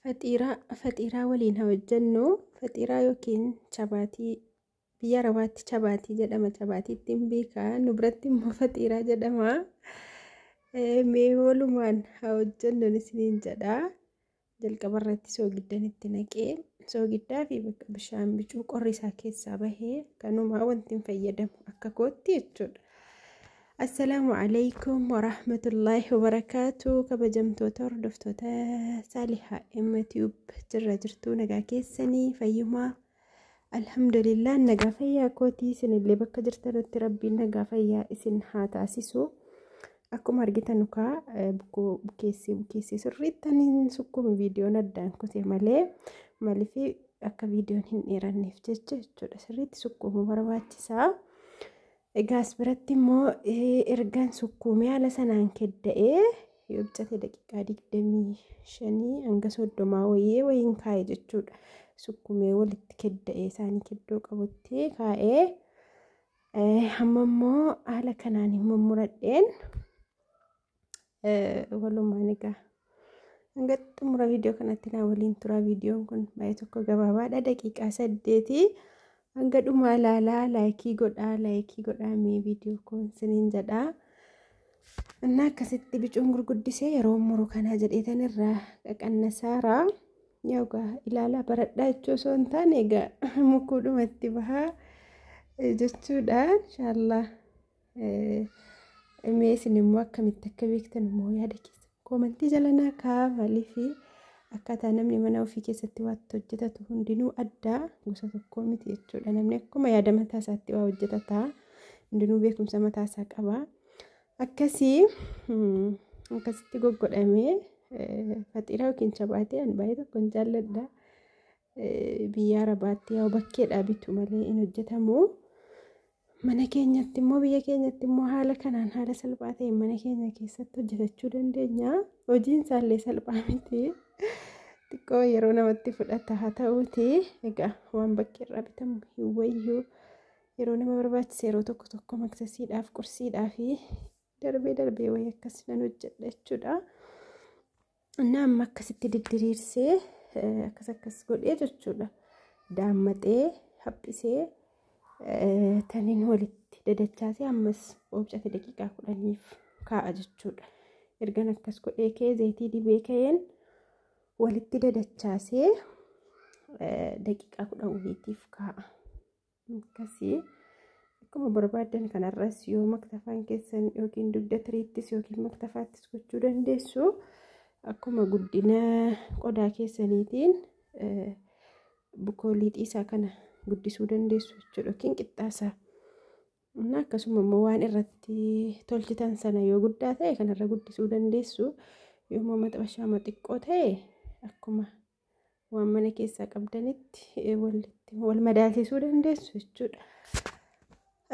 Faxiiraa faxiiraa waliin haa hojjennu faxiiraa yookiin chabaatii biyya arabaatti chabaatii jedhama chabaatiitti hin beekaa nu biratti immoo faxiiraa jedhama mee walumaan haa hojjennu isiniin jedha jalqaba irratti soogiddan itti naqee soogiddaa fi bakka bishaan bicuu qorri isaa keessaa bahee kanumaa wanti hin fayyadamu akka kootti jechuudha. Assalaamu alaikum warahmatullaahi wabarakaatu kabajamtoota hordoftoota saalihaa emmatiyuub jirra jirtuu nagaa keessanii fayyumaa alhamdulillah nagaa fayyaa kootii isinillee bakka jirtanutti rabbiin nagaa fayyaa isin haa taasisu akkuma argitan ukaa bukoo bukeessee bukeessee sirriittaniin sukkuun viidiyoon addaan kutee malee malifi akka viidiyoon hin dheeranneef jecha jechuudha sirriitti sukkuumuu barbaachisaa. Egaa as biratti immoo ergan sukkuumee haala sanaan kedda'ee yoo bichate daqiiqaa digdamii shanii hanga soddomaa wayii wayiin kaa'e jechuudha. Sukkuumee walitti kedda'ee isaanii keddoo qabutti kaa'ee amma immoo haala kanaan immoo muradheen walumaan egaa hanga xumura viidiyoo kanatti naa waliin tura viidiyoon kun baay'ee tokko gabaabaadha daqiiqaa saddeeti hanga dhumaa ilaalaa laayikii godhaa laayikii godhaa mee viidiyoo kun siniin jedhaa innaa akkasitti bicuun gurguddisee yeroo muru kanaa jedheetan irraa qaqannasaaraa yoogaa ilaalaa baradhaa jechuu osoo hin taane egaa mukuudhumatti bahaa jechuudha inshaallah Mee isin immoo akkamitti akka beektan immoo yaada keessan koomantii jala naa kaa maaliif akkaataa namni mana ofii keessatti waatti hojjetatu hundinuu addaa gosa tokkoo miti jechuudha. Namni akkuma yaada mataa isaatti waa hojjetata hundinuu beekumsa mataa isaa qaba. Akkasii akkasitti goggodhamee faxiiraa yookiin chabaatee ani baay'ee tokko hin jaalladha. Biyya arabaatti yaa bakkeedhaa bitu malee hin hojjetamu. Mana keenyatti immoo biyya keenyatti immoo haala kanaan haala salphaa ta'een mana keenya keessatti hojjetachuu dandeenya. Hojiin isaallee salphaa miti. Xiqqoo yeroo namatti fudhata haa ta'uuti. Egaa waan bakki irraa bitamu hin wayyu. Yeroo nama barbaachise yeroo tokko tokko maksasiidhaaf qursiidhaa fi darbee darbee wayii akkas nan hojjedha jechuudha. እና amma akkasitti diddiriirsee akkas akkas godhee jechuudha daammaxee haphisee taniin walitti dadachaasee ammas oobcate daqiiqaa kudhaniif kaa'a jechuudha ergan akkas godhee kee zayitii dibee ka'een walitti dadachaasee daqiiqaa kudhan waliitiif kaa'a. akkasii akkuma barbaadan kanarras yoo maktafaan keessan yookiin dugda tiriittis yookiin maktafaattis gochuu dandeessu akkuma guddina qodaa keessaniitiin bukoolii xiisaa kana guddisuu dandeessu jechuudha yookiin qixxaasaa. Innaa akkasuma immoo waan irratti tolchitan sana yoo guddaa ta'e kanarra guddisuu dandeessu yommuu maxxashaama xiqqoo ta'e akkuma waan mana keessaa qabdanitti walitti wal madaalsisuu dandeessu jechuudha.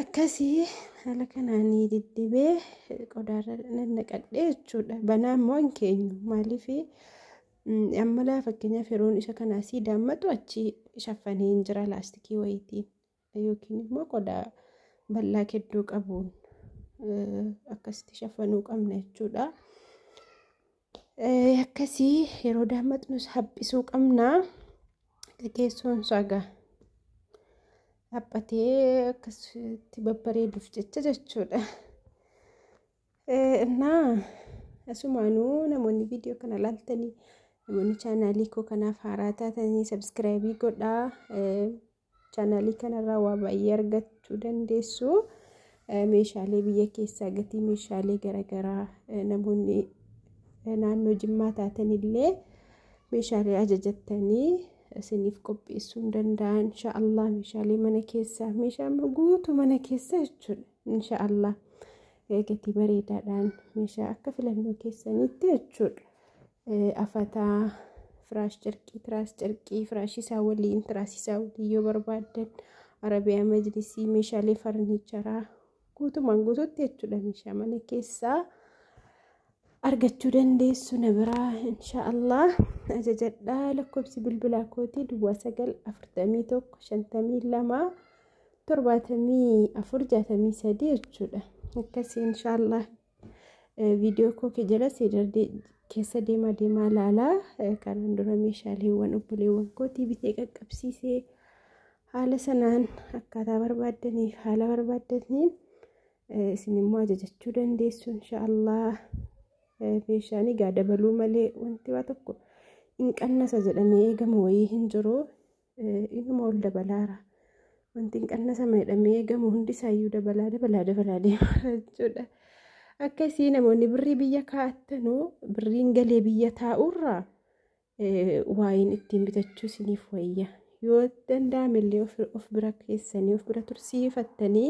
Akkasii haala kanaan diddibee qodaarra nannaqadhee jechuudha. Banaa immoo hin keenyu maaliif ammalaa fakkeenyaaf yeroon isa kanaa sii daammatu achi shaffanee hin jira laastikii wayitiin. yookiin immoo qodaa bal'aa keddoo qabuun akkasitti shafanuu qabna jechuudha. Akkasii yeroo daammatnus haphisuu qabna. Gaggeessuun isaa egaa haphatee akkasitti babbareeduuf jecha jechuudha. Innaa asumaanuu namoonni viidiyoo kana laaltanii namoonni chaanaalii koo kanaaf haaraa taatanii sabiskiraayibii godhaa. Chaanaalii kanarraa waa baay'ee argachuu dandeessu. Meeshaalee biyya keessaa gatii meeshaalee garaagaraa namoonni naannoo jimmaa taatanillee meeshaalee ajajattanii isiniif qopheessuu hin danda'an. Inshaallah meeshaalee mana keessaa meeshaa guutuu mana keessaa jechuudha. Inshaallah gatii bareedaadhaan meeshaa akka filannoo keessaniitti jechuudha. afataa firaash cirqii tiraas cirqii firaashii isaa waliin tiraasii isaa waliin yoo barbaaddan arabiyaa majlisii meeshaalee farniicharaa guutumaan guututti jechuudha meeshaa mana keessaa argachuu dandeessu na biraa insha allah ajajadhaa lakkoofsi bilbilaa kootii duwwaa sagal afurtamii tokko shantamii lama torbaatamii afur jaatamii sadii jechuudha akkasii insha allah Viidiyoo koo kee jala seedardee keessa deemaa deemaa ilaalaa kanaan dura meeshaaleewwan obboleewwan kootii bitee qaqqabsiisee haala sanaan akkaataa barbaaddaniif haala barbaaddaniin isin immoo ajajachuu dandeessu inshaallah meeshaan egaa dabaluu malee wanti waa tokko hin qannasa jedhamee eegamu wayii hin jiru Inuma ol dabalaara. Wanti hin qannasama jedhamee eegamu hundi isaayyuu dabalaa dabalaa dabalaa deemaa jechuudha. Akkasii namoonni birrii biyya kaa'attanu birriin galee biyya taa'urraa waa'een ittiin bitachuu isiniif wayya. Yoo danda'ame illee of bira keessanii of bira tursiifattanii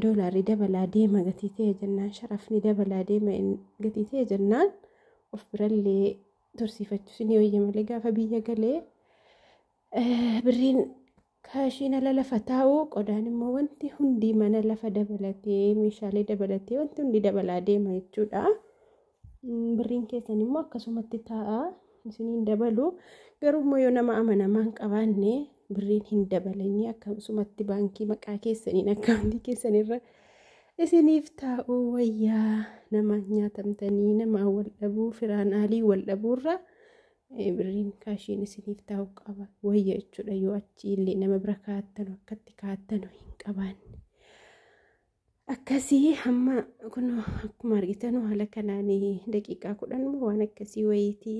doolaarri dabalaa deema gatii ta'e jennaan sharafni dabalaa deema gatii ta'e jennaan of birallee tursiifachuus ni wayya malee gaafa biyya galee birriin kaashiin ala lafa taa'u qodaan immoo wanti hundi mana lafa dabalatee meeshaalee dabalatee wanti hundi dabalaa deema jechuudha. Birriin keessan immoo akkasumatti taa'a isiniin dabalu garuu immoo yoo nama amanamaa hin qabaanne birriin hin dabalanii akkasumatti baankii maqaa keessaniin akkaawuntii keessanirra Isiniif taa'uu wayyaa nama nyaatamtanii namaa wal dhabuu firaan aalii wal dhabuurraa eh, birriin kaashiin isiniif taa'u qaba wayya jechuudha yoo achi illee nama bira kaa'attanu akkatti kaa'attanu hin qabaanne. Akkasii hamma kun akkuma argitanu haala kanaan daqiiqaa kudhan moo waan akkasii wayiitii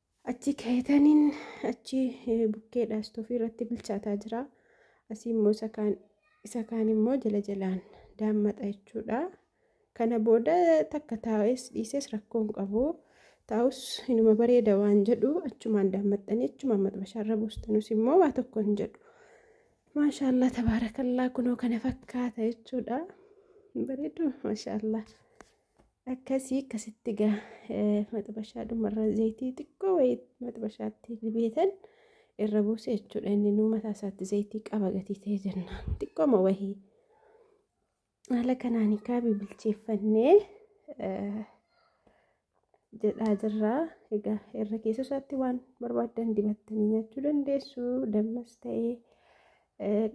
Achi keetaniin achi bukkeedha istoofii irratti bilchaataa jira. Asii immoo isa kaan isa kaan immoo jala jalaan daammaxa jechuudha. Kana booda takka taa'es dhiises rakkoo hin qabu. Taa'us inuma bareeda waan jedhu achumaan daammaxxanii achumaan maxbashaarra buustanus immoo waa tokko hin jedhu. Maashaallah tabaarakallaa kunoo kana fakkaata jechuudha. Bareedu maashaallah. akkasii akkasitti gaa maxbashaa dhumarra zayitii xiqqoo wayii maxbashaatti dibeetan irra buuse jechuudha inni nuu mataa isaatti zayitii qaba gatii ta'e jennaan xiqqooma wayii haala kanaan kaa bibilcheeffannee jedhaa jirraa egaa irra keessa isaatti waan barbaaddan dibattanii nyaachuu dandeessu dammas ta'ee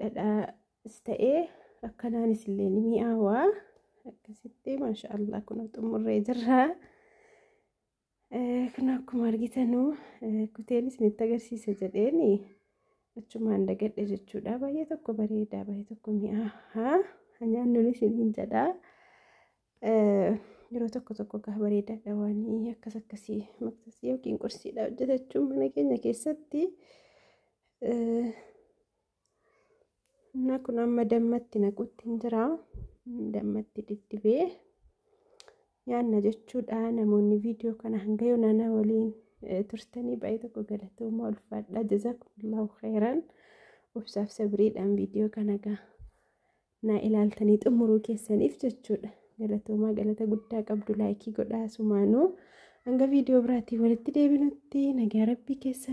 dhadhaa As ta'ee akkanaanis illee ni mi'aawa. Akkasitti maasha Allah kun xumurree jirra. Kun akkuma argitanu kuteenis isinitti agarsiisa jedheen achumaan dagadhe jechuudha. Baay'ee tokko bareedaa baay'ee tokko mi'aaha. Nyaannuun isiniin jedha. Yeroo tokko tokko gaa bareedaadha waan akkas akkasii maqsasii yookiin qursiidha hojjetachuun mana keenya keessatti. Innaa kun amma dammatti naquutti hin jira. Dammatti diddibee nyaanna jechuudha. Namoonni viidiyoo kana hanga yoona na waliin turtanii baay'ee tokko galatoomaa ulfaadha. Jazaakumullaahu khayran. Obsaaf sabriidhaan viidiyoo kana gaa na ilaaltanii xumuruu keessaniif jechuudha. Galatoomaa galata guddaa qabdu laayikii godhaa sumaanuu. Hanga viidiyoo biraatiin walitti deebinutti nagaa rabbii keessan.